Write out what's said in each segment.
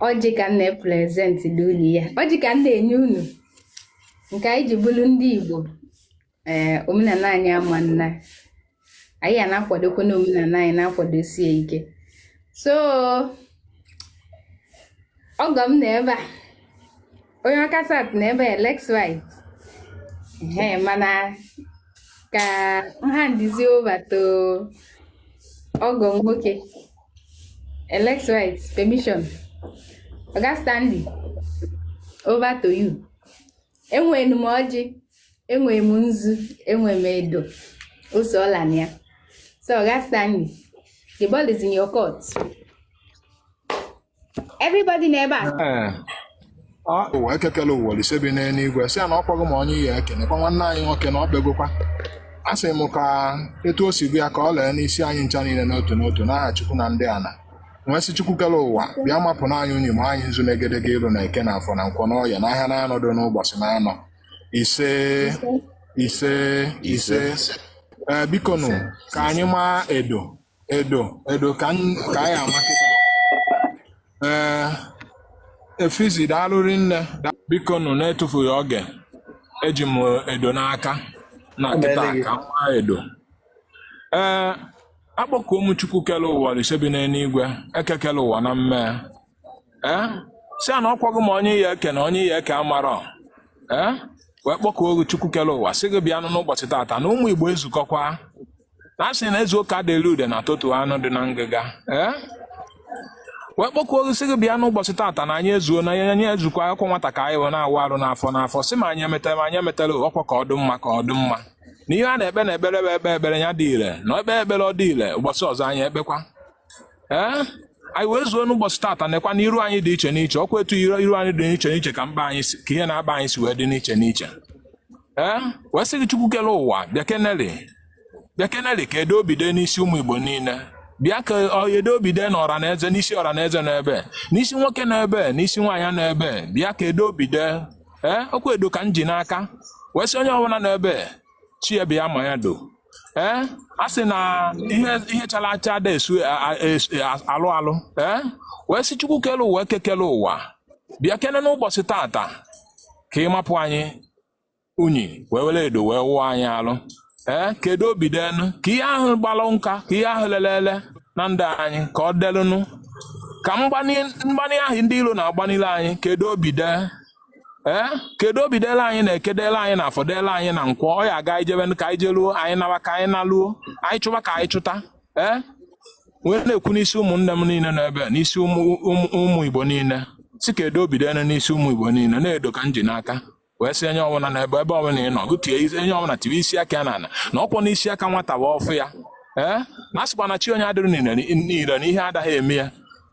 ọjị ka m na-eprezentị n'ụlọ ya ọjị ka m na-enye unu nke anyị ji bụrụ ndị Igbo ee eh, omenana anyị ama nna anyị na-akwadokwa na omenana anyị na-akwadosie ike so ọgọ m nọ ebe a onye ọka sat na ebe lex white ee mana ka nha ndizi over to ọgọ m nwoke lex white permission oga stanley over to you enwere m ọjị enwere m nzu enwere m edo ose ọla na ya so oga stanley the ball is in your court everybody nọ ebe a ụwa eke kele ụwa Olisa bi n'enuigwe sị ya na ọ kpọghị m onye ya ekene kwa nwanne anyị nwoke na ọ bịagokwa a sị m ka etu o si gụ ya ka ọ lee n'isi anyị ncha niile n'otu n'otu n'aha Chukwu na ndị ana wee sị Chukwu kele ụwa bịa mapụ na anyị unyi ma anyị nzu n'egedege ilu na eke na afọ na nkwọ na oye na ahịa na anọ dị n'ụbọsị na anọ ise ise ise ee bikonu ka anyị maa edo edo edo ka anyị ama kịta ee efizi daalụ rinne bikonụ na-etufughị oge eji m edo n'aka na kịta ka m maa edo ee akpọkuo m chukwu kele ụwa Olisa bi n'enuigwe eke kele ụwa na mmee ee sị a na ọkwago m onye ya eke na onye ya eke amarọ ee wee kpọkuo chukwu kele ụwa sị gị bịanụ n'ụbọsị tata na ụmụ igbo ezukọkwa na a sị na ezuo ka a dị eli udene a tọtuo anụ dị na ngịga ee wee kpọkuo gị sị gị bịa n'ụbọsị tata na anyị ezuo na anyị ezukwa ọkwa nwata ka anyị wee na-awụ arụ n'afọ n'afọ sị ma anyị emeta ma anyị emetarọ ọkwa ka ọ dị mma ka ọ dị mma na ihe a na-ekpe na ekpere bụ ekpee ekpere ya dị ire na ekpee ekpere ọ dị ire ụbọsị ọzọ anyị ekpekwa ee anyị wee zuo n'ụbọsị tata nekwa na iru anyị dị iche n'iche ọkwa etu iru iru anyị dị n'iche n'iche ka mkpa anyị si ka ihe na-akpa anyị si wee dị n'iche n'iche ee wee sị gị chukwu kele ụwa bịa keneli bịa keneli ka edo obi dee n'isi ụmụ igbo niile bịa ka ọ- edo obi dee n'ọra na eze n'isi ọra na eze nọ ebe a n'isi nwoke nọ ebe a n'isi nwaanyị nọ ebe a bịa ka edo obi dee ee ọkwa edo ka m ji n'aka wee sị onye ọbụla nọ ebe a chi ya bịa maa ya edo ee eh? a sị na ihe ihe chara acha ada esu alụ alụ ee eh? wee sị chukwu kele ụwa eke kele ụwa bịa kene n'ụbọsị tata ka ị mapụ anyị unyi wee were edo wee wụọ anyị alụ ee eh? ka edo obi deenụ ka ihe ahụ gbalụ nka ka ihe ahụ lele ele na ndụ anyị ka ọ delụnụ ka mgbani ahụ ndị iro na-agbanile anyị ka edo obi dee ee kedu obi dele anyị na eke dele anyị na afọ dele anyị na nkwọ ọ ya aga anyị jebe ka anyị jeluo anyị nawa ka anyị naluo anyị chụwa ka anyị chụta ee wee na-ekwu n'isi ụmụnne m niile nọ ebe a, n'isi ụmụ ụmụ- ụmụ igbo niile sị ka edo bido enu n'isi ụmụ igbo niile na-edo ka m ji n'aka wee sị onye ọbụla na ebe ebe ọbụla ị nọ gụ tie isi- onye ọbụla tiwe isi aka ya n'ala na ọkwa na isi aka nwata bụ ọfọ ya ee na asịkwa na chi onye adịrị ire ire na ihe adaghị eme ya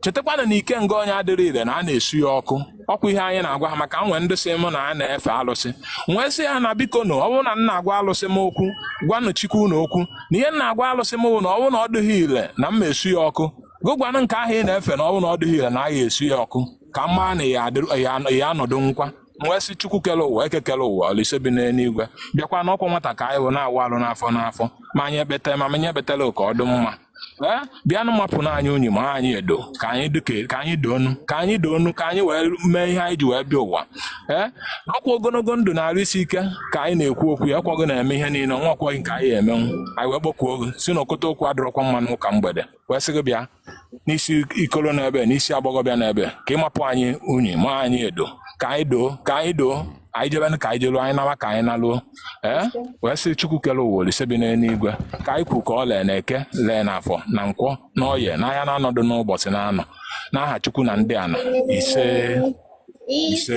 chetakwana na ikenga onye adịrị ire na a na-esu ya ọkụ ọkwa ihe anyị na-agwa ha maka e nwee ndị sị mụ na a na-efe alụsị m wee sị ha na biko na ọ bụrụ na m na-agwa alụsị m okwu gwanụ chikwu unu okwu na ihe m na-agwa alụsị m bụ na ọ bụrụ na ọ dịghị ire na m esu ya ọkụ gụ gwanụ nke ahụ ị na-efe na ọ bụrụ na ọ dịghị ire na a ga-esu ya ọkụ ka m maa na ị ya-adịrị- ị ya-anọdụ nkwa m wee sị chukwu kere ụwa eke kere ụwa olise bi n'enuigwe bịakwa na ọkwa nwata ka anyị bụ na-awụ alụ n'afọ n'afọ ma anyị ekpeta ma anyị ekpetarọ ka ọ dụ mma ee bịanụ mapụnụ anyị unyi maa anyị edo ka anyị duke ka anyị doonu ka anyị doonu ka anyị wee mee ihe anyị ji wee bịa ụwa ee ọkwa ogologo ndụ na arụ isi ike ka anyị na-ekwu okwu ya ọkwa gụ na-eme ihe niile ọnwa o nweghị nke anyị emenwu anyị wee kpọkuo gị sị na okota okwu adịrọkwa mma n'ụka mgbede wee sị gị bịa n'isi ikolo n'ebe n'isi agbọghọbịa n'ebe ka ị mapụ anyị unyi maa anyị edo ka anyị doo ka anyị doo anyị jebe ka anyị jeluo anyị nawa ka anyị naluo ee wee sị chukwu kere ụwa olise bi n'enuigwe ka anyị kwu ka o lee na eke lee na afọ na nkwọ na oye na ahịa naanọ dụ n'ụbọsị naanọ n'aha chukwu na ndị ana ise ise